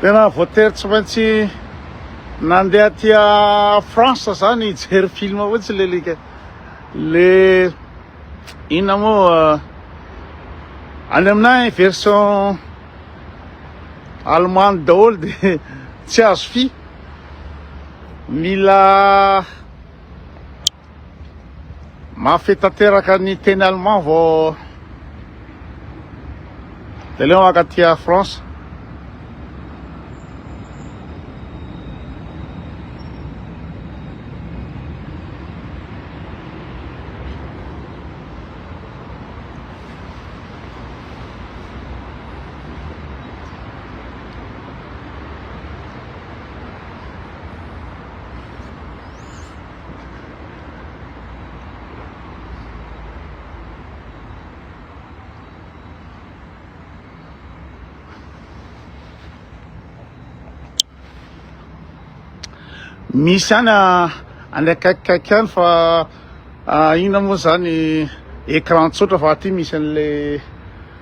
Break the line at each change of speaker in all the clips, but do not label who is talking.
Tena voatery tsy maintsy nandeha aty France zany hijery film fotsiny le lika. Le inona moa euh, any aminay version allemande daholo de tsy azo fi. Mila Mafy tanteraka ny teny allemand vao de leo maka aty à France. Misy any any akaikikaiky any fa inona moa zany écran tsotra fa aty misy an'ilay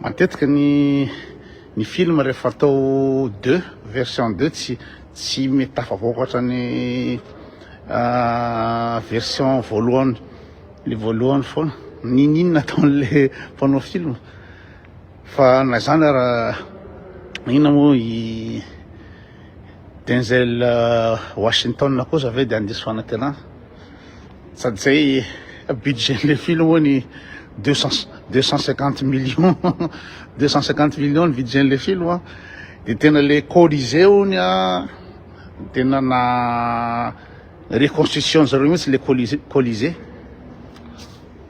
Matetika ny ny film rehefa atao deux version deux tsy tsy mety tafavoaka ohatran'ny version voalohany le voalohany foana niniana ataon'le mpanao film fa na izany ara inona moa i Denzel Washington kosa ve dia handiso fanantenana Sady zay budget le film oa ny deux cent deux cent cinquante millions deux cent cinquante millions ny budget le film a de tena le colisée ony a tena na reconstruction zareo mihitsy le colisée colisée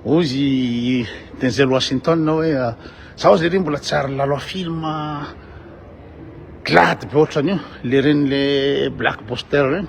hoy izy Denzel Washington hoe zaho zay re mbola tsy ary lalao film glady be ohatran'io le ren'le black boster regny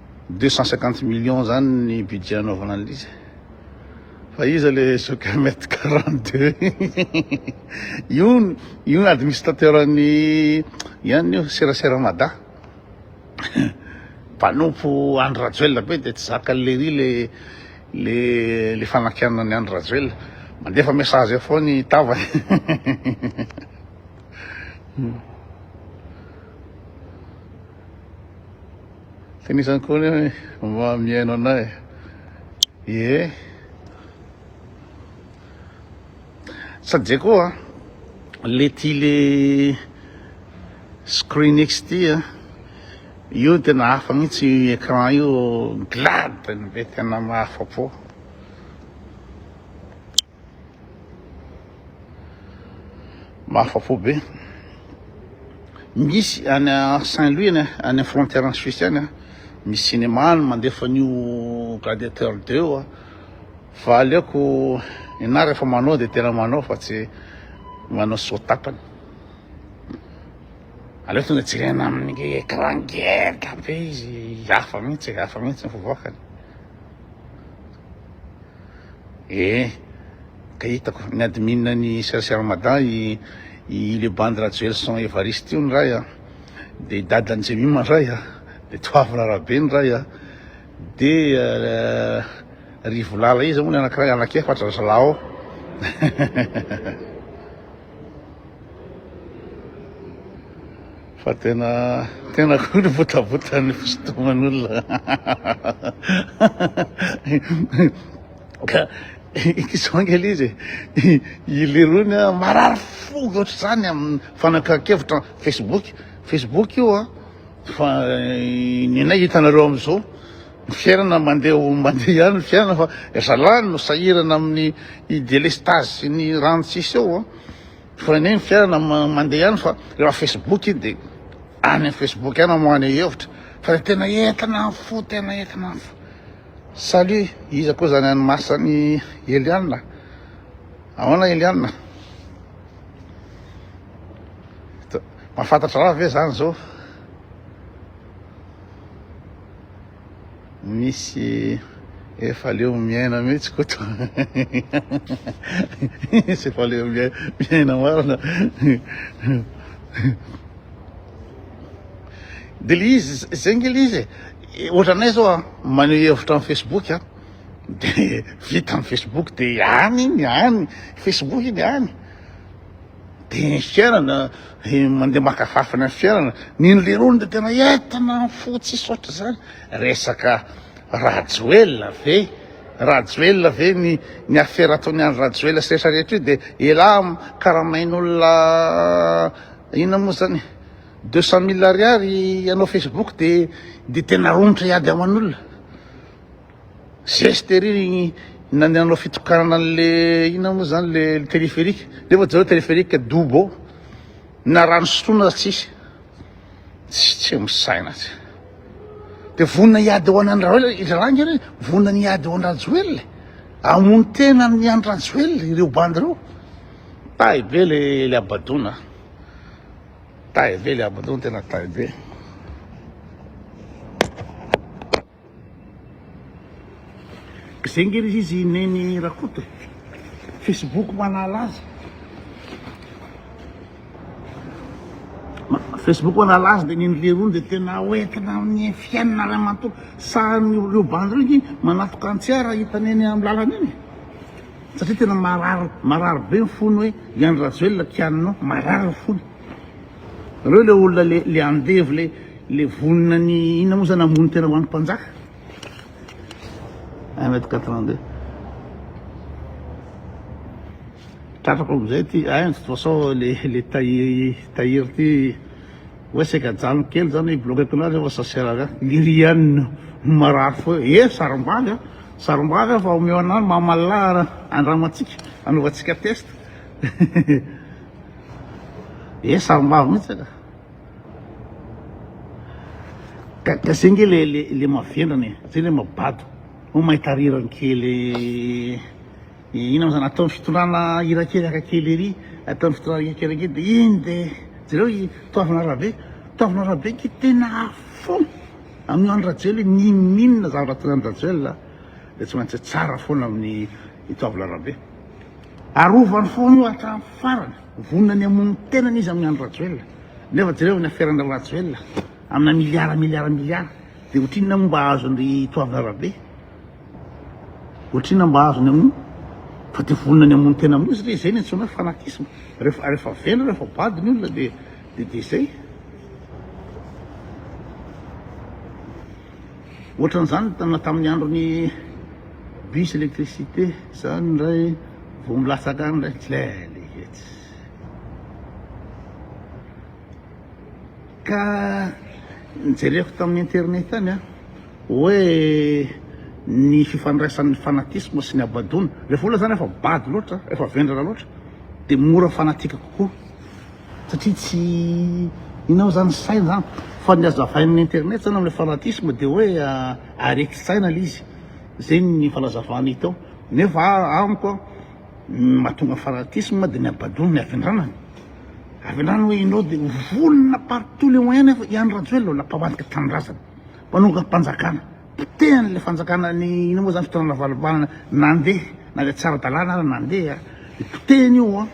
Deux cent cinquante millions zany ny budget anaovana an'ilay izy fa iza le soccer mètre quarante deux io io administrateur ny ihany io serasera mada mpanompo Andry Rajoelina be dia tsy zakan'i Lery le le le fanakianan'i Andry Rajoelina mandefa message eo foana i Tava Tenisany koa ny mba mihaino anay. Ie. Sady zay koa le ty le Screenix ty a. Io ny tena hafa mihitsy io écran io glad ny be tena mahafa-po. Mahafa-po be. Misy any Saint-Louis any any frontière en Suisse any misy cinéma any mandefa an'io Gladiateur 2 io fa aleoko ianà rehefa manao dia tena manao fa tsy manao soa tapany. Aleoko tonga jerena amin'ny écran ngeza be izy hafa mihitsy hafa mihitsy ny fivoakany. Eh! Ka hitako, ny admin ny Chercher Ramadan i i le bandy Rajoelison Evariste io ny ray a, de i dadan'i Jemima ny ray a, de Toavina Rabe ny ray a, de Rivolala iza moa ny anakiray, anak'efatra zalahy ao. Fa tena tena koa ny botabotan'ny fisintoman'olona. Ka izao angela izy i Lerony a, marary fo ohatr'izany amin'ny fanakan-kevitra Facebook, Facebook io a, fa ny anay hitanareo am'zao. Ny fiainana mandeha ho mandeha ihany ny fiainana fa ry zalahy no sahirana amin'ny delestazy sy ny rano tsy hisy eo an! Fa anie ny fiainana mandeha ihany fa rehefa facebook iny dia any amin'ny facebook ihany no maneho hevitra fa dia tena entina ny fo, tena entina ny fo. Salut, iza koa izany an'i Mars an'i Eliana? Ahoana Eliana? Mahafantatra raha ve izany izao? misy efa leo miaina mihitsy koto misy efa leo miaina marina de le izy zay nge le izy e. ohatranay zao a maneho hevitra amin'ny facebook a de vita amin'ny facebook de any iny any facebook iny any Dia ny fiainana, mandeha maka fafiny ny fiainana. Ny noleroany dia tena entana fo tsisy ohatr'izany. Resaka Rajoelina ve? Rajoelina ve ny ny afera ataon'i Andry Rajoelina sy rehetra rehetra io dia elah karamain'olona inona moa zany deux cent mille ariary hanao Facebook dia dia tena romotra hiady aman'olona. Zeste ery ny nanao fitokanana an'le inona moa zany le téléphérique nefa zao téléphérique dobo na rano sotroina aza tsisy tsy tsy misaina tsy de vonona hiady ho anan'i Rajoelina i Zalahy nge vonona ny hiady ho an'i Rajoelina amono tena ny an'i Rajoelina ireo bandy ireo tahy be le le abadona tahy be le abadona tena tahy be Zay nge ry izy Neny Rakoto e! Facebook manahala azy. Facebook manahala azy dia Neny Leroa dia tena ho entina amin'ny fiainana ray manontolo. Sahan'ny ireo bandy ireo nge manafika an'i Tsiara hita Neny amin'ny lalana eny e! Satria tena marary, marary be ny fony hoe i Andry Rajoelina kianina ao, marary ny fony. Nareo le olona le le andevo le le vonona ny inona moa zany hamono tena ho an'ny mpanjaka 1 mètre 82 tratrako amizay ty ay de toute façon le le tahiry tahiry ty hoe saika ajanoko kely zany hoe bloqueko anareo fa ça sert à rien lirianina marary fo eh sarombavy a sarombavy a fa omeo anah mamalà andramantsika anaovantsika test Ee sarimbavy mihitsy ka. Ka ka zay nge le le le mavendrana e, zay le mabado. Ho mahita rirany kely ina moa zany ataon'ny fitondrana hira kely haka kely ery, ataon'ny fitondrana hira kely ange de iny de jereo i Toavina Rabe, Toavina Rabe nge tena fou amin'io Andry Rajoelina io, n'inon'inona zavatra ataon'i Andry Rajoelina dia tsy maintsy tsara foana amin'ny i Toavina Rabe. Arovany foana io hatramin'ny farany. Vonona ny hamono ny tenany izy amin'i Andry Rajoelina. Nefa jereo ny aferan-dry Rajoelina amina miliara miliara miliara. Dia ohatrinona moa mba azon-dry Toavina Rabe? Ohatrinona mba azony amin'io? Fa dia vonona ny hamono tena amin'io izy re, izay no antsoina hoe fanatisme. Rehefa rehefa vendrana, rehefa bado ny olona dia dia dia izay. Ohatran'izany na tamin'ny andron'ny bus électricité zany ndray vao milatsaka any ndray tlele etsy ka nijereko tamin'ny internet any a hoe ny fifandraisan'ny fanatisme sy ny habadoana rehefa olona zany efa bado loatra efa vendrana loatra dia mora fanatika kokoa satria tsy inona moa zany saina zany fa ny azo avainin'ny internet zany amin'ilay fanatisme dia hoe areti-tsaina ilay izy, zay ny fanazavana hita ao nefa amiko an ny mahatonga fanatisme dia ny habadoana ny havendranana, havendranana hoe ianao dia vonona par tous les moyens nefa i Andry Rajoelina mbola mpamadika tanindrazana, mpanongam-panjakana. Petehany ilay fanjakana ny ino moa zany fitoerana valom-banana nandeha na ilay tsy ara-dalàna ary nandeha dia potehiny io an,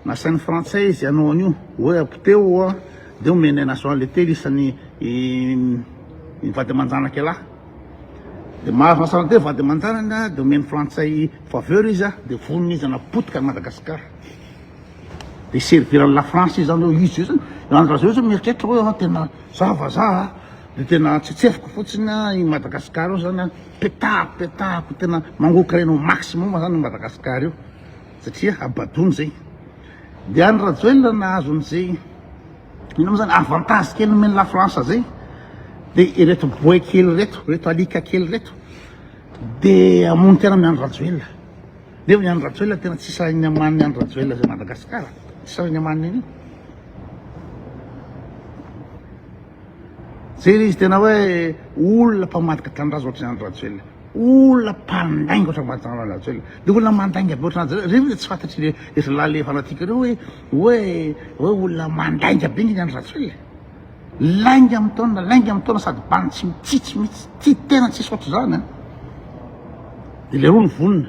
nasain'ny frantsay izy hanao an'io hoe apoteho an dia omeny an'i Nation Letely isan'ny ny vady aman-janaka ialahy dia mahazo Nation Letely vady aman-janany dia omen'ny frantsay faveur izy an dia vonona izy hanao potika an'i Madagasikara dia hiservir an'i la France izy zany hoe izy io zany, i Andry Rajoelina zao mieritreritra hoe tena za vazaha. Dia tena atsetsefiko fotsiny a, i Madagascar io zany a, petahako petahako tena mangoka aina au maximum zany i Madagascar io, satria habadoana zay. Dia any Rajoelina nahazo an'izay, ino mo zany, avantage kely nomen'i la France zay, dia ireto boay kely ireto, ireto alika kely ireto, dia hamono tena amin'i Andry Rajoelina. Nefa i Andry Rajoelina tena tsy sahin'ny aman'i Andry Rajoelina zay Madagascar, tsy sahin'ny amaniny an'io. Zay le izy tena hoe olona mpamadika tanindrazana ohatr'izany Andry Rajoelina. Olona mpandainga ohatr'izany mpamadika tanindrazana Andry Rajoelina. Dia olona mandainga be ohatr'izany Andry Rajoelina. Ireny tsy fantatry le ery lahy le fanatique ireo hoe hoe hoe olona mandainga be ny Andry Rajoelina. Lainga amin'ny taona, lainga amin'ny taona sady bany tsy mitsitsy mitsy. Tsy tena tsisy ohatr'izany. Eh. Dia le roa ny vonona.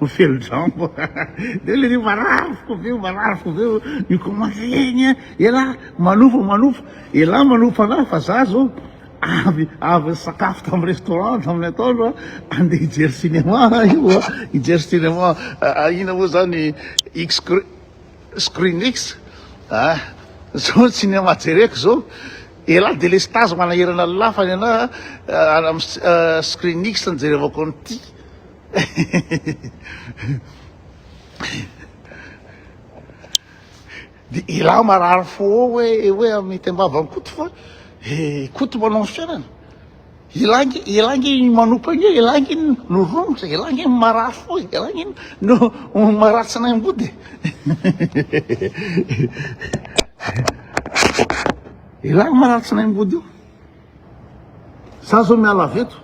Ho feno jambo de le ry marary foko be marary foko be mi commence egny a elah manofo manofo elah manofo fanahy fa za zao avy avy nisakafo tam restaurant tamin'ny atoandro a andeha hijery cinéma ah io a hijery cinéma ina moa zany x screen x a zao ny cinéma jereko zao elah delestage manahirana ny lafany ana screen x nijerevako an'ity Dia ilah marary fo hoe hoe amin'ny tembavany koto fa eh, koto manao ny fiainana ilah nge ilah nge manopa nge ilah nge no romotra ilah nge marary fo ilah nge no maratsy nay ambody ilah maratsy nay ambody io Za zao miala avy eto,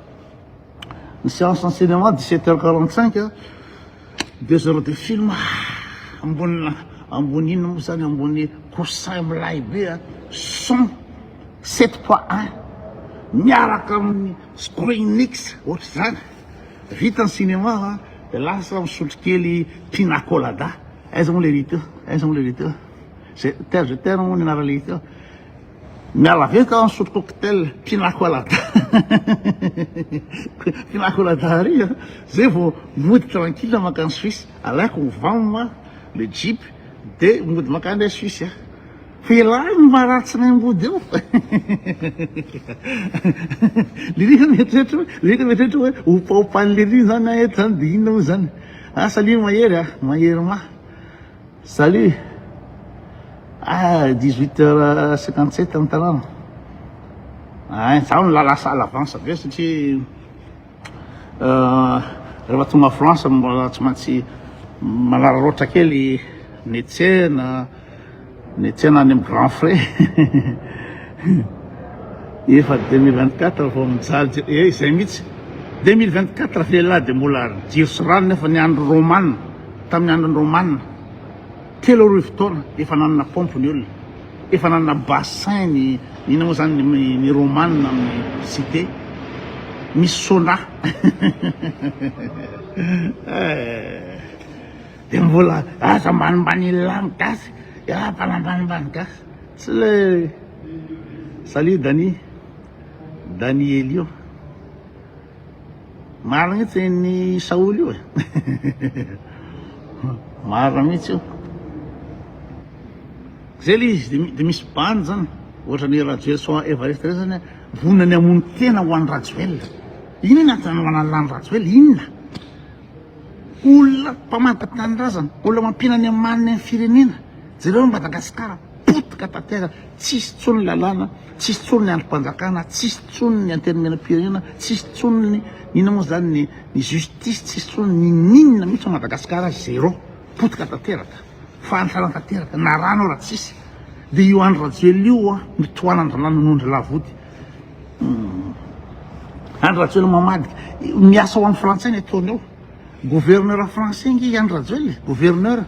ny séance en cinéma 17 heures 45 a, deux heures de film, ambonina, ambony inona moa zany, ambony coussin milay be a, son, 7.1, miaraka amin'ny screenix, ohatr'izany, vita ny cinéma a, de lasa misotro kely pina colada, aiza moa le riteo, aiza moa le riteo, je t'aime, je t'aime moa ny anarany riteo, Miala avy eto aho misotro cocktail pina colada pina colada ary a, zay vao mody tranquille mankany Suisse, alaiko ny vam a, le jeep de mody mankany aho Suisse a, fa ialahy no maha ratsy ny ambody eo Lily mieritreritra hoe, Lily mieritreritra hoe hopaopan'i Lily zany aho eto zany de inona moa zany, asa Lily mahery a, mahery mah. Salut! Ah 18 heures 57 ny tanàna. Ay, izaho no la lasa à l'avance avy eo satria euh, rehefa tonga France mbola tsy maintsy manararaotra kely ny tsena, ny tsena any amin'ny grand frais. Efa 2024 vao mijaly jiro, eh izay mihitsy. 2024 ve lahy dia mbola jiro sy rano nefa ny andro romana. Tamin'ny andron'ny Romana, telo arivo taona efa nanana paompy ny olona, efa nanana bassin ny inona moa izany ny Romana amin'ny cité, misy sauna dia mbola aza ambanimbanian'ny lany gasy, mbola ambanimbany gasy, tsy ilay Salut Dani, Danielio. Marina io tenin'i Saholy io e. Marina mihitsy io. Zay le izy de misy bande zany. Ohatra ny Rajoel so Everest reo zany vonona ny hamono tena ho an'i Rajoel. Inona ny antony anovanan'ny lany Rajoel? Inona? Olona mpamantaky tanindrazana, olona mampiana ny amaniny amin'ny firenena. Jereo Madagasikara potika tanteraka. Tsisy tsony lalàna, tsisy tsony ny andrim-panjakana, tsisy tsony ny antenimieram-pirenena, tsisy tsony ny inona moa izany ny ny justice, tsisy tsony ny n'inona mihitsy ao Madagasikara, zéro, potika tanteraka, fahantrana tanteraka, na rano ara tsisy, dia io Andry Rajoelina io hoa no tohanan'dranano noho n'dry lavody, humm Andry Rajoelina mamadika, miasa ho an'ny frantsay ny ataony ao, gouverneur français ange i Andry Rajoelina e, gouverneur.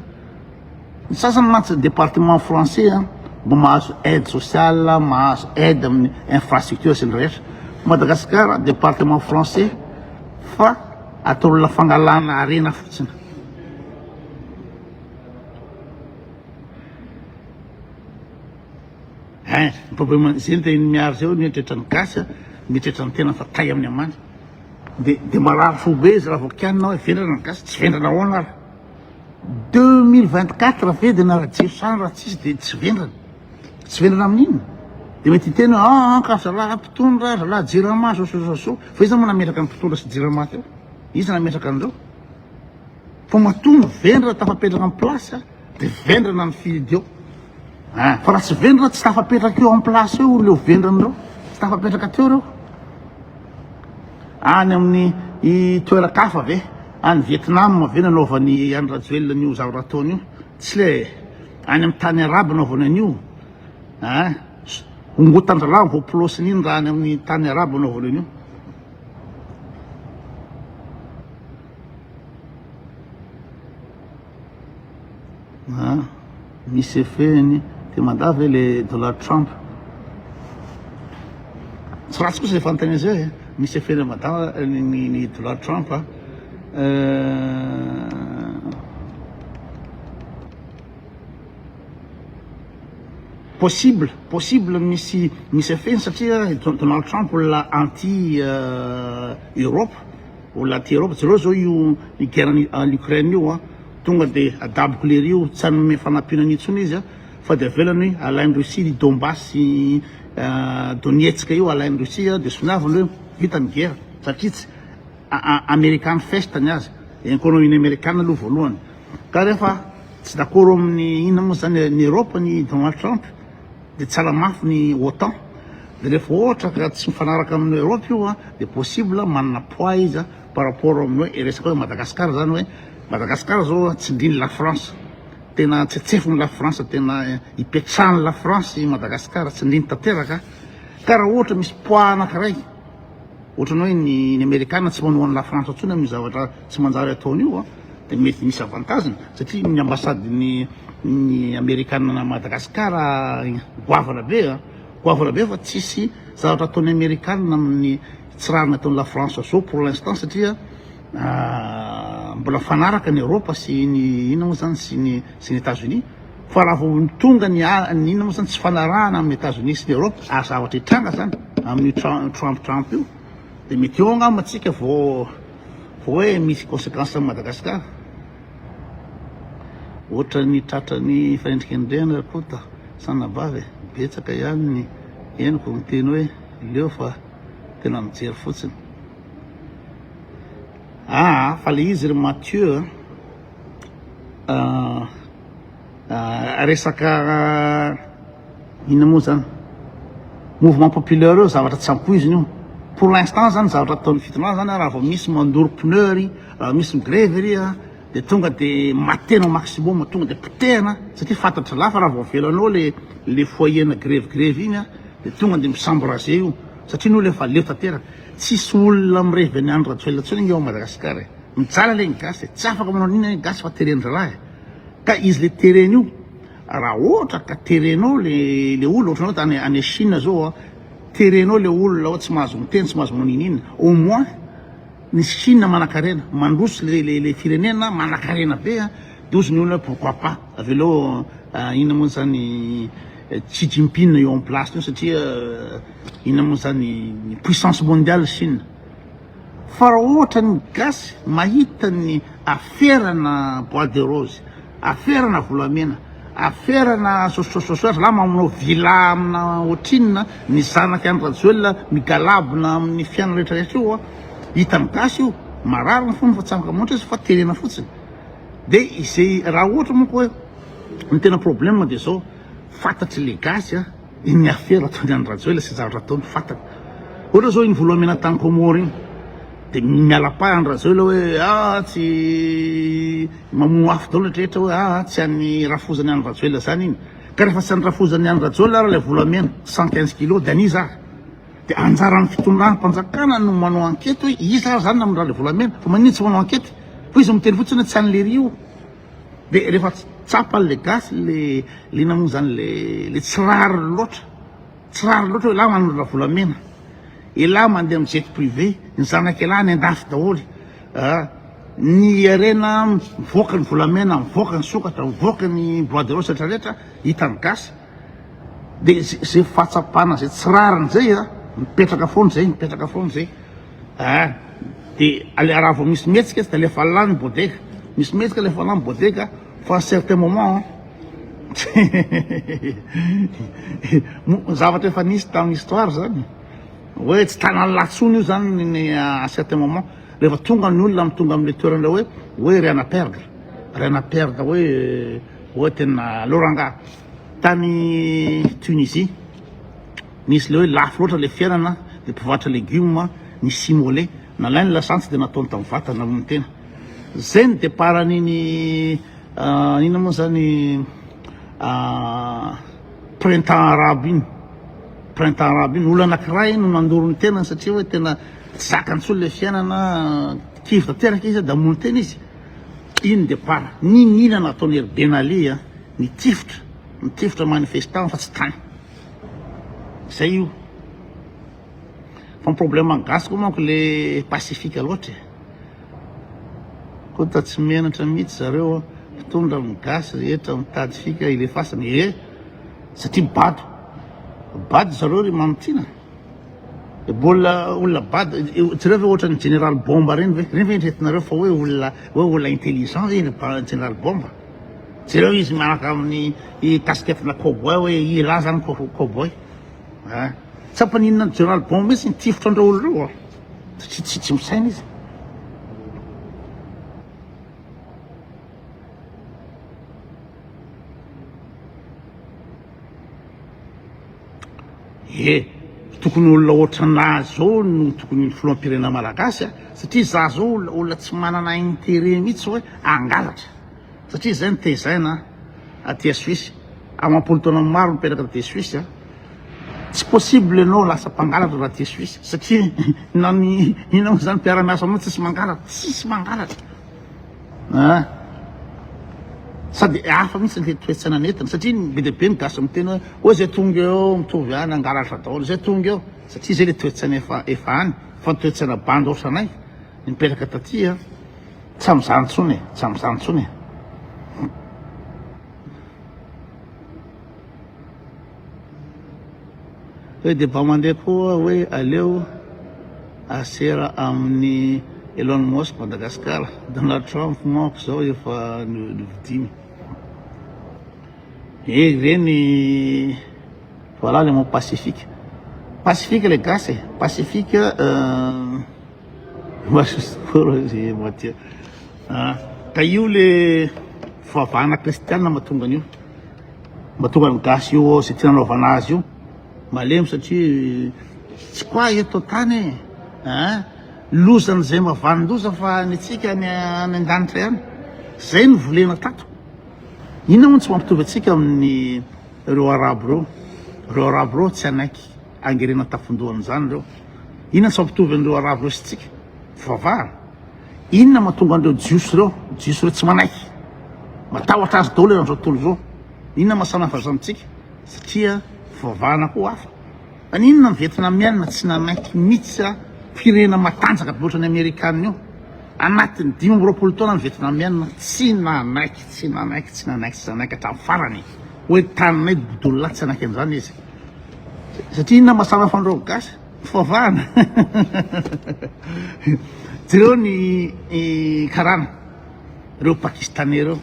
Ny sasany mantsy département français an, mba mahazo aide sociale, mahazo aide amin'ny infrastructure sy ny rehetra. Madagascar département français fa ataolona fangalana harena fotsiny. Hein, ny problème zay ny tenin'i Miary zay hoe mieritreritra ny gasy an, mieritreritra ny tenany fa tay amin'ny amany. De de marary fo be izy raha vao kianina hoe vendrana ny gasy, tsy vendrana ahoana ary. Deux mille vingt quatre vedrina ra jesosa ra tsisy de tsy vendrana tsy vendrana amin inona de mety hiteny hoe aa ah, ka zalahy mpitondra zalahy jirama zao so zao so fa iza moa nametraka ny mpitondra sy jirama teo iza nametraka anreo fa matoa ny vendra tafapetraka ny place de vendrana ny fidy eo ah, fa raha tsy vendra tsy tafapetraka eo en place eo leo vendranareo tsy tafapetraka teo reo any amin'ny toeran-kafa ve Any Vietnam ve nanaovany any Rajoelina an'io zavatra ataony io? Tsy le any amin'ny tany arabo anaovany an'io a? Ah, hongotan-dralahy vao pulosiny iny raha any amin'ny tany arabo anaovany an'io. Ah. Misy effet-ny te mandà ve le Donald Trump? Tsy ratsy kosa zay fanontaniana zay e! Misy effet-ny am Mada ny Donald Trump a! Possible, possible misy misy effet-ny satria i Donald Trump olona anti Europe, olona anti Europe, jereo zao io i guerre any Ukraine io a! Tonga de adaboko lery io tsy hanome fanampiana an intsony izy an fa de avelany hoe alainy Russie ny Donbas sy Donetsk io alainy Russie an de soniaviny hoe vita ny gera satria tsy American fest ny azy economie ny American aloha voalohany ka refa tsy dakoro aminy inona mo zany ny Europe ny Donald Trump de tsy ala mafy ny otan de refa ohatra ka tsy mifanaraka aminy Europe io an de possible manana poids izy an. par rapport amin'ny hoe resaka hoe Madagascar zany hoe Madagascar zao tsindrin'i la France tena tsetsefin'i la France tena ipetrahan'i la France i Madagascar tsindriny tanteraka ka raha ohatra misy poids anankiray ohatran'ny hoe ny ny Amerikana tsy manohan'i la France intsony amin'ny zavatra tsy manjary ataony io a dia mety misy avantage-ny satria ny ambasadin'ny ny Amerikana any Madagascar goavana be a goavana be fa tsisy zavatra ataon'ny Amerikana amin'ny Tsy raha nataon'i la France zao pour l'instant satria mbola mifanaraka ny Eropa sy ny inona moa zany sy ny sy ny Etats Unis fa raha vao tonga ny ny inona moa zany tsy fanarahana amin'ny Etats Unis sy ny Eropa ary zavatra hitranga zany amin'ny Trump Trump io dia mety eo angamba antsika vao vao hoe misy conséquence amin'i Madagasikara ohatra ny tratra ny fanendrika ny rena kota sanabavy betsaka ihany ny henoko miteny hoe leo fa Tena mijery fotsiny. Ah, fa le izy ry Mathieu ah, ah, resaka ah, inona moa zany mouvement populaire eo zavatra tsy ampoiziny io pour l'instant zany zavatra ataon'ny fitondrana zany raha vao misy mandoro pneu ry raha misy migrevy ry Dia tonga dia matena au maximum, tonga dia potehana satria fantatry lahy fa raha vao avela anao le le foyer na grevy grevy iny a dia tonga dia mi-s'embraser io satria ny olona efa leo tanteraka. Tsisy olona mirevy an'i Andry Rajoelina intsony anie ao Madagasikara e! Mijaly anie ny gasy e! Tsy afaka manao an'iny anie ny gasy fa teren-draharaha e! Ka izy le tereny io, raha ohatra ka terenao le le olona ohatra anao tany any Chine zao a, terenao le olona ao tsy mahazo miteny, tsy mahazo manao n'inon'inona, au moins, Ny Chine manakarena, mandroso le le le firenena manakarena be an, dozy ny olona hoe pourquoi pas, avy eo aleo inona moa zany Xi Jinping eo am place-ny eo satria inona moa zany puissance mondiale Chine, fa raha ohatra ny gasy mahita ny aferana bois de rose, Aferana volamena, aferana sososososoa, zalahy mamono villa amina ohatrinona, ny zanaky any Rajoelina migalabona amin'ny fiainana rehetra rehetra io a, hitan'ny gasy io, marary ny fony fa tsy afaka mamoatra izy fa terena fotsiny, de izay raha ohatra manko hoe ny tena problème de zao, fantatry le gasy a. Inona avy ary ataony any Rajoelina sy zavatra ataony fantany. Ohatra zao iny Volomena tany Comore iny de miala pahy any Rajoelina hoe ah tsy mamono afo daholo rehetra hoe ah tsy any Rafozany any Rajoelina zany iny. Ka rehefa tsy any Rafozany any Rajoelina ary ilay volamena 115 kilos de an'iza ary? De anjaran'ny fitondram-panjakana no manao ankety hoe iza ary zany namindra ilay volamena fa maninona tsy manao ankety fa izy miteny fotsiny hoe tsy an'i Lery io. Dia rehefa tsapa le gasy le le namono zany le le tsy rariny loatra tsy rariny loatra hoe elah manolo ravolamena elah mandeha am jet privé ny zanak elah any andafy daholy ah ny harena mivoaka ny volamena mivoaka ny sokatra mivoaka ny bois de rose retraretra hitany gasy Dia izay fahatsapana izay tsy rariny izay an, mipetraka foana izay, mipetraka foana izay. Ah, dia ale raha vao misy mihetsika izy dia alefa lany ny bodega. Misy mihetsika alefa lany ny bodega fa à certain moment zavatra efa nisy tamin'ny histoire izany. Hoe tsy tanan'ny lahy intsony io izany ny à certain moment. Rehefa tonga ny olona tonga amin'ilay toerana hoe hoe rien à perdre, rien à perdre hoe Oa tena aleo rangaha tany Tunisie nisy le hoe lafo loatra le fiainana de mpivarotra legume ny simole nalainy lasantsy de nataony tam vatana hono ny tena zay ny depart an'iny inona moa zany printemps arabe iny printemps arabe iny olona anakiray no nandoro ny tenany satria hoe tena tsy zakany tsony le fiainana kivy tanteraka izy de hamono tena izy In the par niniana nataon'ery Ben Ali a! Nitifitra, nitifitra manifestant fa tsy tany. Zay io. Fa ny problème gasy koa manko le pacifique loatra e. Kota tsy menatra mihitsy zareo a! Mpitondra amin'ny gasy rehetra mitady fika hilefasany e! Satria bado. Bado zareo ry Mamitina. Mbola olona bado, jereo ve ohatran'ny General Bomba reny ve? Reny ve eritreretinareo fa hoe olona hoe olona intelligent ve iny General Bomba? Jereo izy miaraka amin'ny casquette na cowboy hoe i ra zany cowboy. Ah, tsy ampaninona ny General Bomba mihitsy ny tifitra andreo olona reo ah. Tsy tsy tsy misaina izy. Ie, tokony olona ohatranà zao no tokony filoham-pirenena malagasy a, satria za zao olona tsy manana intérêt mihitsy hoe hangalatra, satria zay no tezaina aty a Suisse, amam-polo taona maro nipetraka aty Suisse a, tsy possible ianao lasa mpangalatra raha aty Suisse, satria na ny inona moa zany mpiara-miasa aminao tsisy mangalatra, tsisy mangalatra. An! Sady hafa mihitsy ilay toe-tsaina nentina satria ny be dia be ny gasy miteny hoe hoy izay tonga eo mitovy ihany hangalatra daholo izay tonga eo satria izay ilay toe-tsaina efa efa any fa ny toe-tsaina bandy ohatranay nipetraka taty an! Tsy amin'izany intsony e! Tsy amin'izany intsony e! Hoe dia mba mandeha koa hoe aleo asera amin'ny Elon Musk Madagascar, Donald Trump manko izao efa novidiany. Eh ireny voilà le mot pacifique. Pacifique le gasy e, pacifique euh, masosikoro moitié. Ah, ka io le fivavahana kristianina mahatonga an'io. Mahatonga ny gasy eo ao zay tiana anaovana azy io malemy satria tsy quoi eto an-tany e hein lozan'izay mavanin-doza fa ny antsika any any an-danitra ihany zay no volena tato inona moa no tsy mampitovy antsika amin'ny reo arabo reo reo arabo reo tsy hanaiky hangerena an-tafon-dohan'izany reo inona no tsy mampitovy an'ireo arabo reo sy tsika fivavahana Inona mahatonga an'ireo Jiosy ireo, Jiosy ireo tsy manaiky? Matahotra azy daholo ianareo tontolo izao. Inona maha samy hafa izany antsika? Satria fivavahana koa hafa. Fa ny inona ny Vietnamiana tsy nanaiky mihitsy a? Firenena matanjaka be ohatra ny Amerikana io. Anatin'ny dimy amby roapolo taona ny Vietnamiana tsy nanaiky, tsy nanaiky, tsy nanaiky, tsy nanaiky hatramin'ny farany hoe taninay Boudollah tsy nanaiky an'izany izy. Satria inona maha samy hafa an'ireo Gasy? Fivavahana! Jereo ny karana reo pakistanais reo,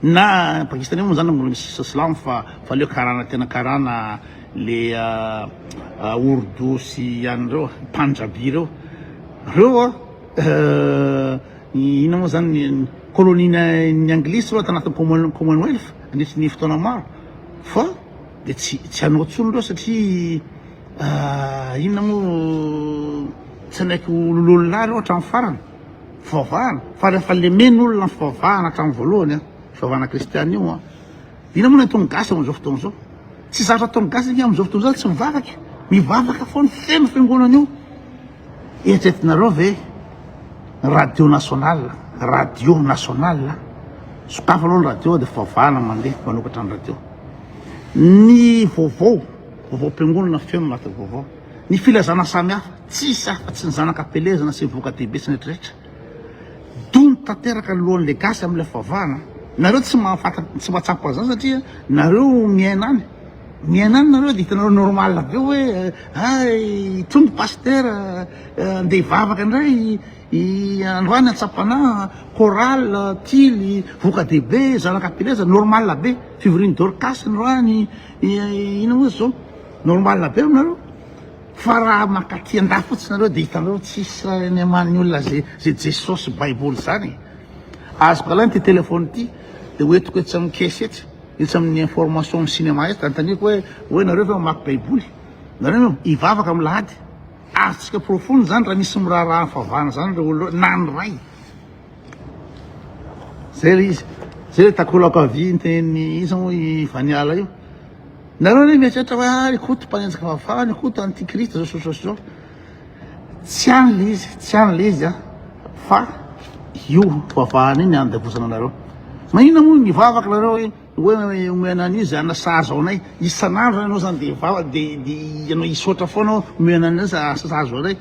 na pakistanais moa zany mbola misy silamo fa fa aleo karana tena karana le ourdou sy any reo panjabi reo, reo inona moa zany ny colonie ny anglisy reo tanatin'ny commonwealth nandritry ny fotoana maro fa. Dia tsy tsy hanao intsony ireo satria inona moa tsy hanaiky ho lolololahy ireo hatramin'ny farany. Fivavahana fa rehefa lemena olona ny fivavahana hatramin'ny voalohany an, fivavahana kristiana io an. Inona moa no ataon'ny gasy amin'izao fotoana izao? Tsy zatra ataon'ny gasy anie amin'izao fotoana izao tsy mivavaka e, mivavaka foana feno fiangonana io. Eritreretinareo ve radio national, radio national, sokafy aloha ny radio dia fivavahana mandeha manokatra ny radio. Ny vaovao, vaovaom-piangonana feno anatin'ny vaovao. Ny filazana samihafa, tsisy hafa fa tsy ny zanaka am-pelezana sy ny voka-dehibe sy ny rehetrarehetra. Dondo tanteraka ny lohan'ilay gasy amin'ilay fivavahana. Nareo tsy mahafantatra, tsy mahatsapa an'izany satria nareo miaina any. Miaina any nareo de hitanareo normal be hoe hay hitombo pasteur andeha hivavaka indray i androany antsapanaha chorale tily voka dehibe zanaka pileza normal be fivorian'i dorcas androany ino moa izy zao normal be aminareo fa raha mankaty an-dahy fotsiny nareo de hitanareo tsisy any aman'ny olona ze ze jesosy baiboly zany e azoko alaina ty telephone ty de hoentiko etsy amin'ny caisse etsy Etsy amin'ny information amin'ny cinéma etsy, anontaniako hoe, hoe nareo ve mamaky baiboly? Nareo ve hivavaka amin'ny lahady? Azontsika porofoina izany raha misy miraharaha ny fahavahana izany ireo olona ireo, na ny ray. Zay ilay izy. Zay ilay takolaka vy niteny iza moa i Vaniala io. Nareo anie mieritreritra hoe ah i Koto mpanenjika fahafahana, i Koto antikristy zao sy zao sy zao. Tsy any le izy, tsy any le izy a, fa io fivavahana io no andevozana anareo. Maninona moa mivavaka nareo hoe hoe omena an'io zay anasazy anay, isan'andro ianao zany de vava de de ianao hisaotra foana hoe omena anay zay anasazy anay,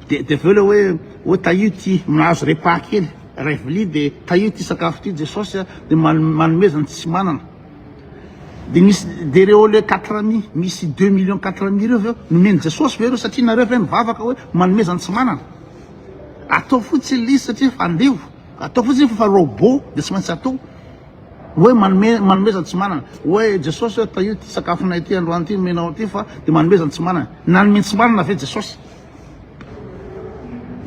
de de avy eo le hoe hoe tahio ity, mahazo repas kely, iray vilia de tahio ity sakafo ity Jesosy a, de man- manomezany tsy manana. Dia misy dia ireo le quatre amis misy deux millions quatre amis ireo ve hoe nomen'i Jesosy ve ireo satria nareo ve mivavaka hoe manomeza ny tsy manana? Atao fotsiny le izy satria efa andevo, atao fotsiny izy fa efa robot dia tsy maintsy atao hoe manome manomeza ny tsy manana hoe Jesosy hoe tahio ity sakafonay ity androany ity nomenao ity fa dia manomeza ny tsy manana. Nanome ny tsy manana ve Jesosy?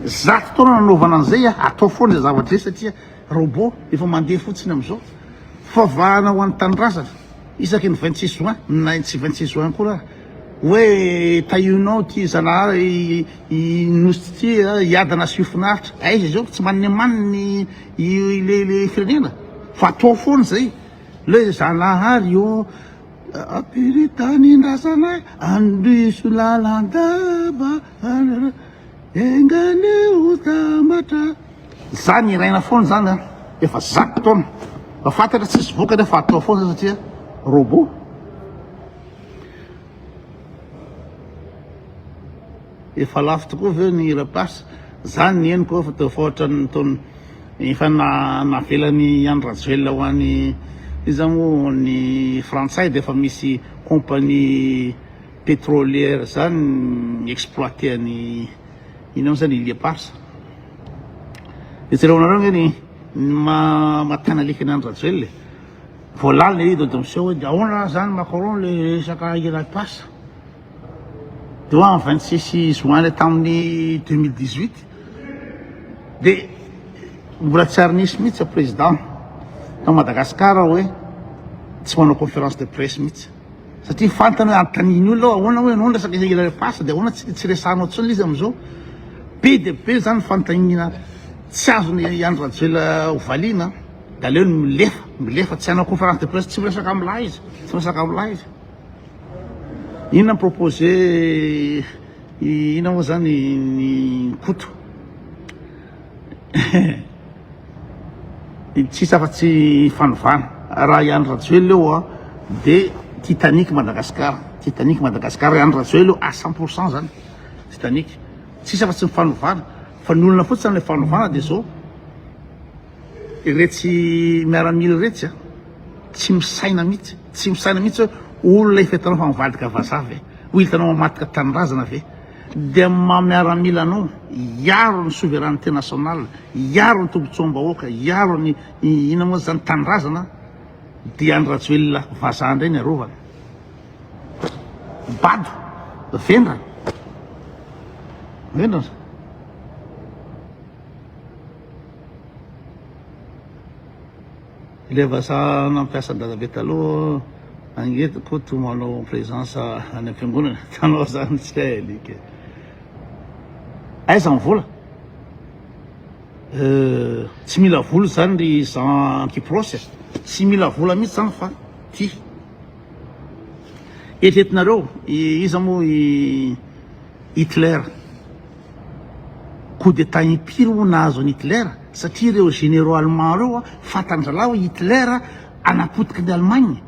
Zato taona nanaovana an'izay, atao foana izay zavatra izay satria Robot efa mandeha fotsiny amin'izao. Favahana ho an'ny tanindrazana, isaky ny vingt six juin, na ny tsy vingt six juin akory ary, hoe tahionao ity Zanahary i Nosy ity hiadana asio finaritra. Aiza izao ka tsy maninemaniny ilay firenena? Fa atao foana izay. Le Zanahary ô, ampiri tanindrazana e, andiso lalandava, enga anie hotambatra. Za niraina foana zany an, efa zato taona fa fantatra tsisy vokany fa atao foana satria robot. Efa lafo tokoa ve ny hira pas? Za ny henoko efa teo faotran'ny nton efa navelany Andry Rajoelina ho any iza moa ny frantsay dia efa misy compagnie petrolière zany mi exploiter an'i Inona moa zany i Lia Parsa? Dia jereo anareo ange ny mahatana alika an'i Rajoel e. Vao lalina i Dodo miseho hoe dia ahoana raha zany Macron le resaka i Lia Parsa? Dia ho amin'ny 26 juin le tamin'ny 2018 dia mbola tsy ary nisy mihitsy président tao Madagasikara hoe tsy manao conférence de presse mihitsy. Satria fantany hoe anontanian'ny olona hoe ahoana hoy ianao ny resaka hira le face dia ahoana tsy resahanao intsony le izy amin'izao. Be dia be izany ny fanontaniana tsy azon'i Andry Rajoelina hovaliana dia aleony milefa, milefa, tsy hanao conférence de presse, tsy miresaka amin'lah izy, tsy miresaka amin'lah izy. Inona ny proposé inona moa izany ny Koto. Tsisy afa tsy fanovana. Raha i Andry Rajoelina eo dia Titanic Madagascar, Titanic Madagascar, i Andry Rajoelina eo à cent pour cent zany Titanic. Tsisy afa tsy ny fanovana fa ny olona fotsiny ilay fanovana dia zao iretsy miaramila iretsy a! tsy misaina mihitsy, tsy misaina mihitsy hoe olona efa hitanao fa mivadika vazaha ve? Ho hitanao mamadika tanindrazana ve? Dia ny maha miaramila anao, hiaro ny souveraineté nationale, hiaro ny tombotsoam-bahoaka, hiaro ny inona moa izany, tanindrazana, dia Andry Rajoelina vazaha indray ny arovana. Bado, vendrana, vendrana. Ilay vazaha nampiasa dadabe taloha ange eto Koto manao présence any am-piangonana hitanao zany tsy hay alika e! Aiza ny vola? Euh, tsy mila vola zany ry Jean Kyprosy e! Tsy mila vola mihitsy zany fa tia. Eritreretinareo iza moa i Hitler? Coup d'Etat impiry hono nahazo an'i Hitler satria ireo généraux allemands ireo fantandr'Allah hoe Hitler anapotiky ny Allemagne.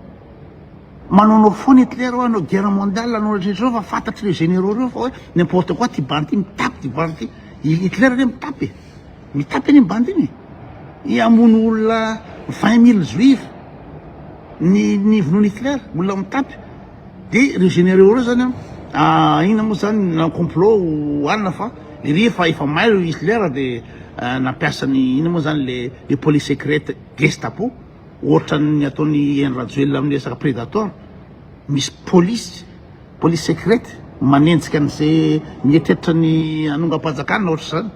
Manaonao foana Hitler hoe hanao guerre mondiale hanao rehetra ireo fa fantatr'ireo généraux ireo fa hoe n'importe quoi ty bandy ty mitapy ty bandy ty. I Hitler anie mitapy e. Mitapy anie ny bandy iny e. I hamono olona 20 mille juifs ny nivonoan'i Hitler, olona mitapy. De reo généraux reo zany an inona moa zany nanao complot ho alina fa iry efa efa may reo Hitler de nampiasa ny inona moa zany le le police secrète gestapo ohatran'ny ataon'i Henry Rajoelina amin'ny resaka predator misy police police secrète manenjika an'ze mieritreritra ny hanongam-panjakana ohatr'zany.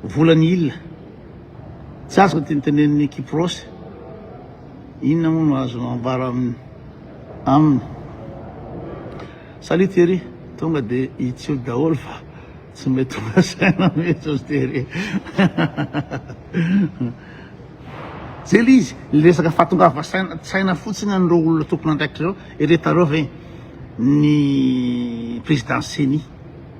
Vola ny il. Tsy azoko ity nitenenin'i Kiprosy. Inona moa no azonao ambara aminy? Salut Thierry, tonga de itsio daholo fa tsy mety tonga saina mihitsy ozy Thierry. Zay le izy, le resaka fahatongava saina fotsiny an'ireo olona tompon'andraikitra ireo, eretareo ve ny président ceni?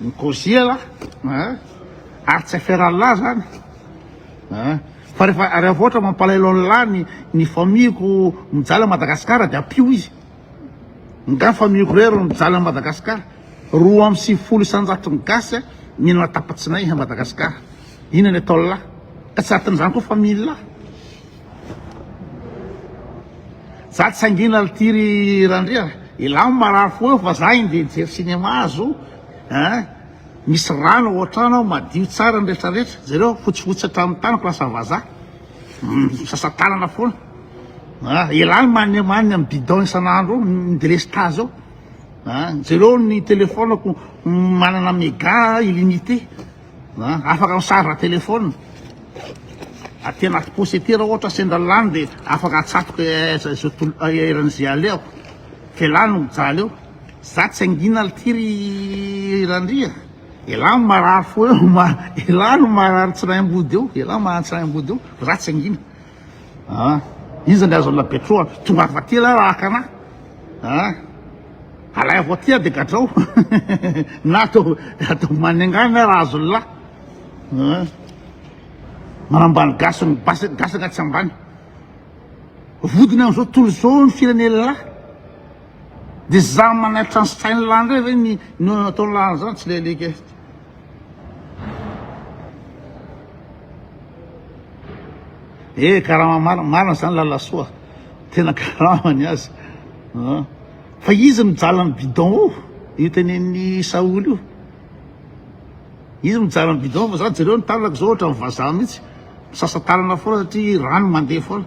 ny koziela ary tsy aferanlah zany fa refa refa ohatra mampalahelo anlah ny ny famille-ko mijaly any Madagascar de ampio izy nga famille-ko rery no mijaly any Madagascar roa amby sivifolo isanjato ny gasy mihinana tapatsinay any Madagascar inona ny ataonlah ka tsy atin'izany koa famille-lah. Za tsy hangina ity ry Randria, elah marary fo eo fa za inde hijery cinéma azo hein, misy rano ao an-trano ao madio tsara ny retraretra, jereo fotsifotsy hatramin'ny tany place vazaha, misasa tanana foana ah, elah ny maniamanina amin'ny bidon isan'andro eo, ny delestazy eo, jereo ny telefonako manana mega illimité. Afaka mi-charge téléphone aty anaty posy aty raha ohatra sendra lany dia afaka atsatoka eran'izay alehako fa elah no mijaly eo, za tsy hangina aty ry Randria elah no marary fo eo, elah no marary tsiraimbody eo, elah no marary tsiraimbody eo fa za tsy hangina. Ah! Iza ny azon' la Betro a? Tonga ato aty ialahy raha haka anah ah! Alaivo aty aho dia gadrao na atao atao manenga ahy na raha azon' la ah! Manambany gasy ny basy gasy anaty tsy ambany. Vodiny amin'izao tontolo izao ny firenena la dia za manaitra an'i Saint la ndray ve ny ny ataon' la zany tsy lelike. Eh, karama marina, marina zany lalasoa. Tena karama ny azy. Ah. Fa izy mijaly amin'ny bidon io, io tenen'ny Saoly io. Izy mijaly amin'ny bidon fa za jereo ny tanako zao ohatran'ny vazaha mihitsy. Misasa tanana foana satria rano mandeha foana.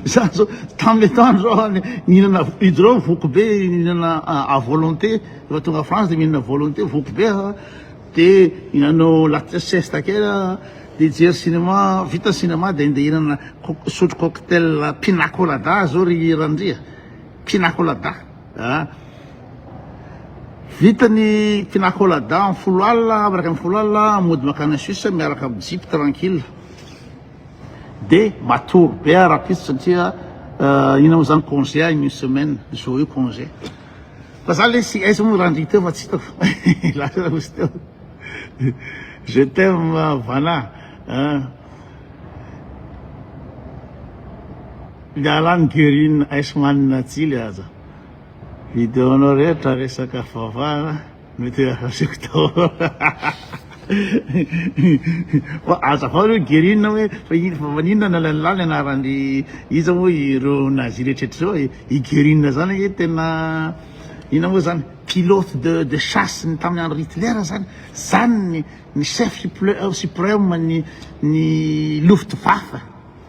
Izaho izao tamin'ny etoana izao nihinana hydro voky be nihinana à volonté rehefa tonga France dia mihinana volonté voky be aho dia nanao latte siesta kely aho dia hijery cinéma vita cinéma dia andeha hihinana sotro cocktail pina colada izao ry Randria pina colada ah vita ny pina colada amin'ny folo alina miaraka amin'ny folo alina mody makany Suisse miaraka amin'ny jeep tranquille Dia matory be aho rahampitso satria inona moa zany congé ahy une semaine jour io congé. Fa za lesy aiza moa randria teo fa tsy hitako fa lasa ramose teo. Je t'aime Vana an. Miala any Guerine Iceman Tsily aza. Video-nao rehetra resaka fivavahana. Mety asiko tao fa aza avao reo Guerine hoe fa ino fa maninona nalainy lany anarany iza moa ireo nazi rehetra reo e i Guerine zany ange tena ina moa zany pilote de de chasse ny tamin'ny andro Hitler zany zany ny ny chef supreme ny ny luftwaffe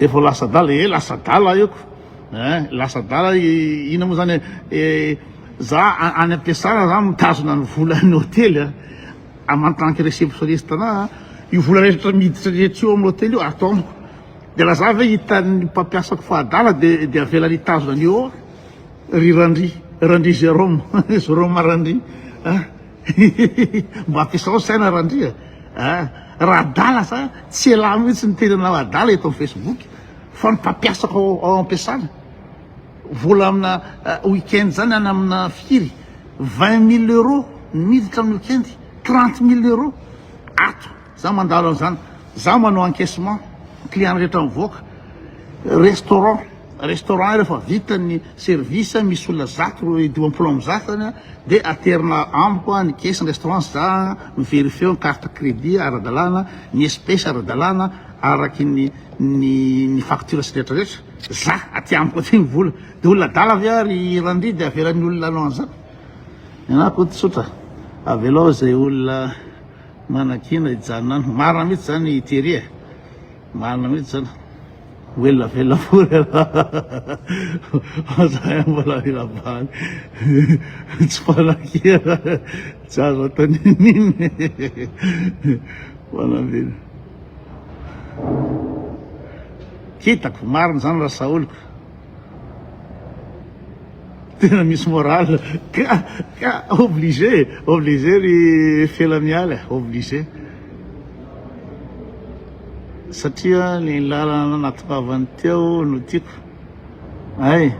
Efa lasa adala e, lasa adala aiko eh, lasa adala ina moa zany eh, za any am-piasana za mitazona ny volan'ny hotely eh, amantanky réceptionniste tana io vola rehetra miditra rehetra io amin'ny hotely io ato amiko de laza ve hitan'ny mpampiasako fa adala de de avela nitazona an'io Ry Randry, Randry Jérôme, Jérôme Randry a! mba ampiasao saina Randry a! raha adala sa tsy elah mihitsy ny tenanao adala eto amin'ny Facebook fa ny mpampiasako ao am-piasana vola amina week-end zany any amina firy vingt mille euros miditra amin'ny week-end trente mille euros ato Za mandalo an'izany, za manao encaissement, client rehetra mivoaka, restaurant, restaurant iray fa vita ny service, misy olona zato ro dimampolo amby zato any, dia aterina amiko ny caisse ny restaurant, za mi verifier ny carte crédit ara-dalàna, ny espèce ara-dalàna, araky ny ny ny facture sy ny rehetra rehetra, za aty amiko aty ny vola, dia olona adala ve ary i Randria dia avelan'ny olona hanao an'izany? Ny anah akoa tsotra, avelao izay olona. Manakiana hijanona any. Marina mihitsy zany i Thierry e. Marina mihitsy zany. Ho ela velona fory ianao. Za ihany mbola mila bary. Tsy manakiana. Tsy azo atao n'inon'inona e. Manambina. Kitako, marina zany rasaoliko. Tena misy morale ka ka obligé obligé ry Felamiala eh, obligé satria ny lalana natoavany teo no tiako ay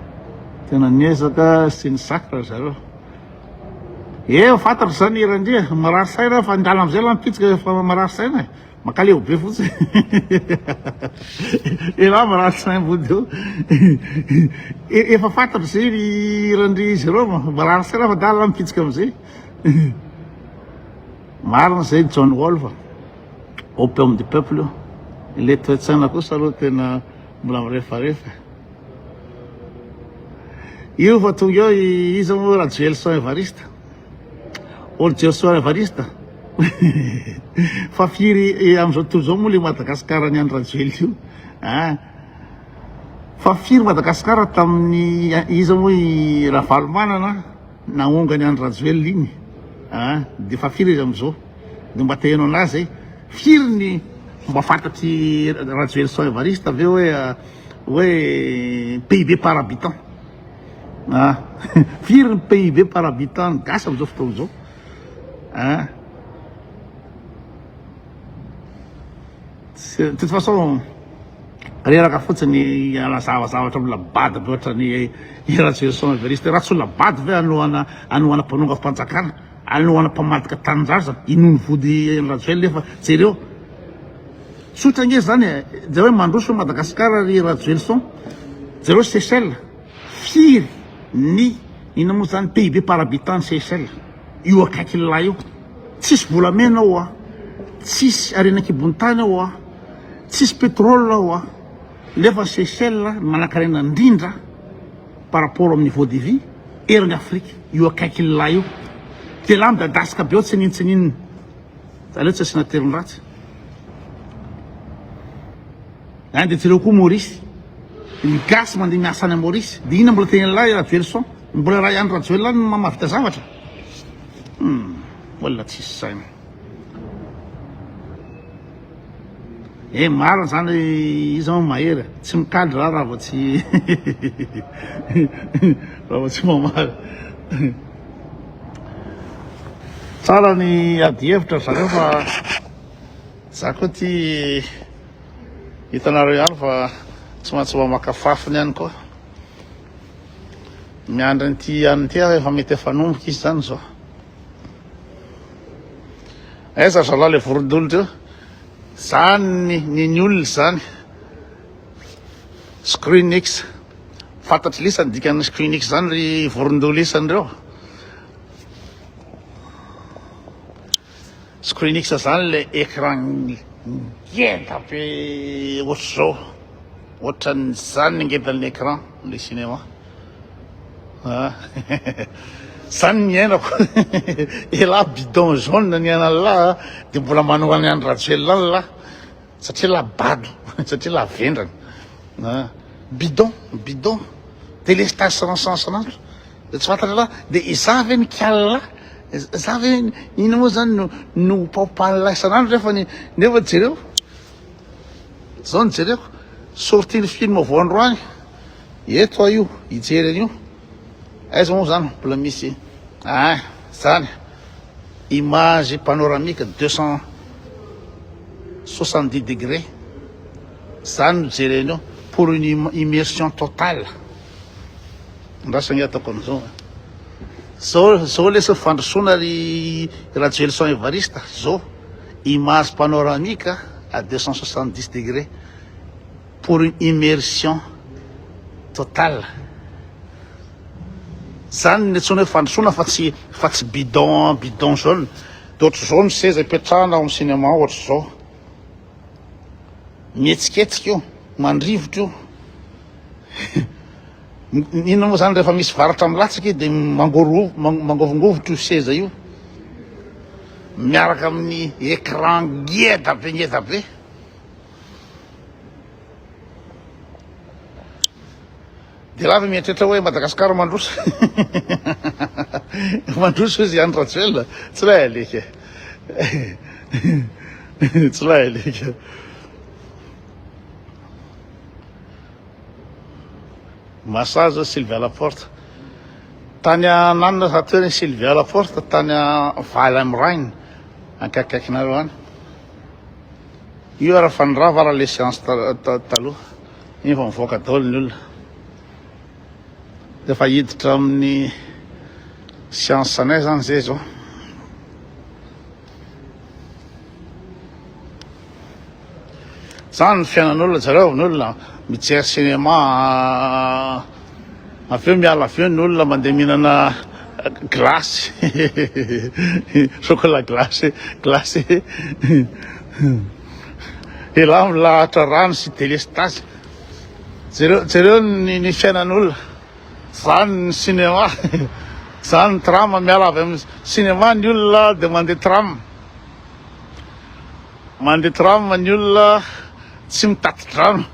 tena niezaka sy ny sakra zareo e eh, fantatro zany irandria marary saina fa ny lalana amizay la mipitsika fa marary saina eh. Makaleo be fotsiny elah marary sain vody eo efa fantatra zay ry randria izy ireo marary sain aho fa dala aho mipitsika amizay marina zay John Wolf opium du peuple io le toetsaina kosa aloha tena mbola mirefarefa io fa tonga eo iza moa Rajoelison Evariste Ol Jesoa Evariste fa firy amin'izao tontolo izao moa le Madagascar ny Andry Rajoelina io hein fa firy Madagascar tamin'ny iza moa i Ravalomanana naonga ny Andry Rajoelina iny hein de fa firy izy amin'izao de mba te heno an'ahy zay firy ny mba fantatry Rajoelison Evariste ve hoe hoe pays be par habitant Ah! Firy ny PIB par habitant ny gasy amin'izao fotoana izao? Ah! De toute façon, reraka fotsiny anazava zavatra mbola bado be ohatran'ny Ratsy Gerson Evariste. Raha tsy olona bado ve hanohana hanohana mpanongam-panjakana, hanohana mpamadika tanindraza, inoany vody an'i Rajoelina efa jereo. Tsotra nge zany e, jereo hoe mandroso Madagascar ry Rajoelison, jereo Seychelles, firy ny inona moa zany PIB par habitant any Seychelles, io akaikin'lah io, tsisy volamena ao an, tsisy harena an-kibon'ny tany ao an, tsisy pétrole ao an, nefa ny Seychelles no manankarena indrindra par rapport amin'ny niveau de vie eran'ny Afrique, io akaikin'lah io, de elah midadasika be ao tsininintsininina. Aleo tsy asiana terme ratsy. Any dia jereo koa Maurice. Ny gasy mandeha miasa any Maurice. Dia inona mbola teny lahy Raveloson? Mbola raha i Andry Rajoelina no mahavita zavatra? Hmm, olona tsisy saina. Eh marina zany izy an mahery tsy mikaly raha raha vao tsy raha vao tsy mamaly Tsara ny adihevitra ry zareo fa za koa ty hitanareo ihany fa tsy maintsy mba maka fafiny ihany koa. Miandry an'ity ihany ity aho efa mety efa nomboka izy zany zao. Aiza zalahy le vorondolo teo? Zany ny ny olona zany. Screenix. Fantatry lesa ny dikan'ny squinix zany ry vorondoha lesa anreo. Squinix zany le écran ngeda be ohatr'izao. Ohatran'izany ny ngedan'ny écran le cinéma. Ah. Zany ny iainako. Elah bidon jaune ny an'Allah de mbola manohana an'i Rajoelina any lah. Satria la bado, satria la vendrana, bidon, bidon, delestage san'ansan san'andro, dia tsy fantatra la dia izaho ve nikala, izaho ve inona moa izany no no paopan'la isan'andro nefa ny nefa jereo, izao ny jereko, sortie ny film voandroany, eto aho io hijery an'io. Aiza moa zany mbola misy ah zany image panoramique deux cent soixante dix degré zany no jerenao pour une immersion totale andrasana nge ataoko an'izao a zao zao lesy ny fandrosoana ry Rajoelison Evariste zao image panoramique à deux cent soixante dix degré pour une immersion totale zany ny antsoina hoe fandrosoana fa tsy fa tsy bidon bidon jaune de ohatr'izao ny seza ipetrahana ao amin'ny cinéma ohatr'izao mihetsiketsika io mandrivotra io inona moa zany rehefa misy varatra milatsaka dia mangoro mangovongovotro io seza io miaraka amin'ny écran ngeda be ngeda be Dia lava mieritreritra hoe Madagascar mandroso. Mandroso izy Andry Rajoelina. Tsy lay alika. Tsy lay alika. Massage Sylvia Laporte. Tany ananina raha toerana Sylvia Laporte tany Valheim Rhine. Ankakaikinareo any. Io ary fa nirava ary le séance taloha. Iny fa mivoaka daholo ny olona. Rehefa hiditra amin'ny séance anay zany zay zao. Zany ny fiainan'olona zareo ny olona mijery cinéma Avy eo miala avy eo ny olona mandeha mihinana glace chocolat glace glace elah milahatra rano sy delestazy jereo jereo ny ny fiainan'olona zany ny cinéma zany ny tram miala avy amin'ny cinéma ny olona dia mandeha tram Mandeha tram ny olona tsy mitati-drano.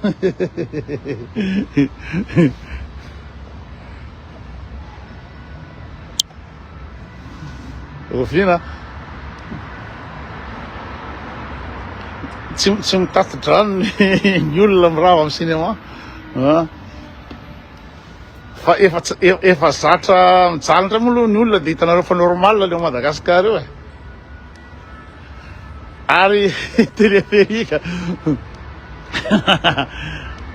Oviana? Tsy tsy mitati-drano ny olona mirava amin'ny cinéma an. Fa efa efa zatra mijaly indray moa aloha ny olona dia hitanareo fa normal le Madagascar io e. Ary teleferika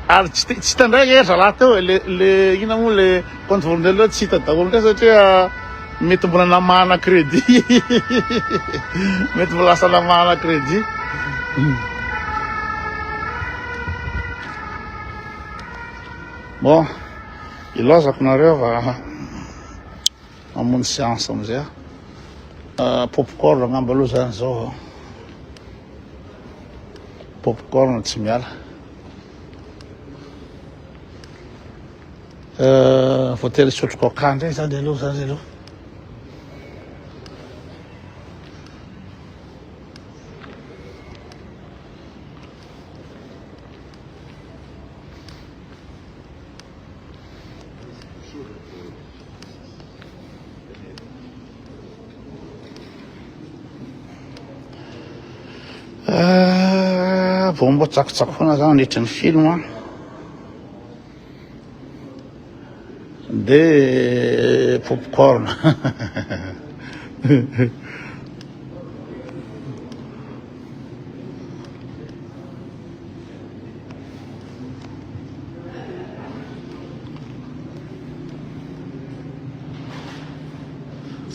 ary tsy tsy hita ndray e zalahy teo e le le ina moa le compte formidel reo tsy hita daholo ndray satria mety mbola namahana crédit mety mbola lasa namahana crédit bon ilazako nareo fa Mamono seance amizay aho. Ah, popcorn angamba aloha zany zao a. Popcorn tsy miala. Euh, voatery hisotro coca ndray zany aloha zany aloha. Ah, vao mba tsakotsako foana za nandritry ny film a de popcorn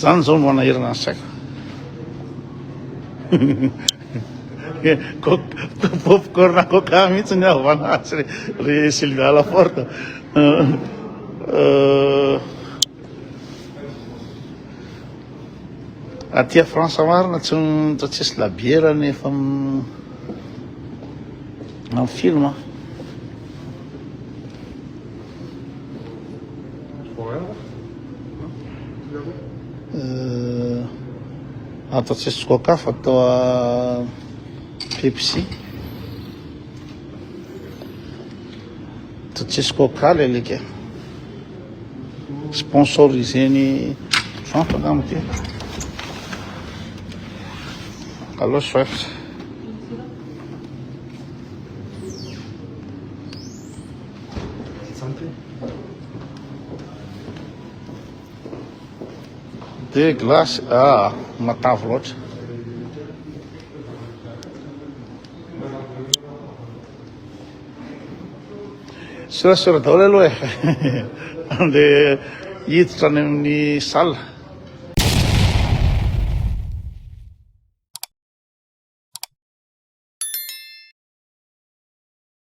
Zany zao no hanahirana ny saiko. Popcorn coca mihitsy ny havana azy ry, ry Sylvia Alaforte. Euh, euh... Aty a France marina tsy tsy tsisy labiera ny efa amin'ny film a. Euh, ato tsisy coca fa toa Pepsi. Toa tsisy coca le alika. Sponsoriseny Trump angamba ity. Allo Swift. De glace, ah, matavy loatra. Sorasora daholo aloha e. Andeha hiditra any amin'ny salle.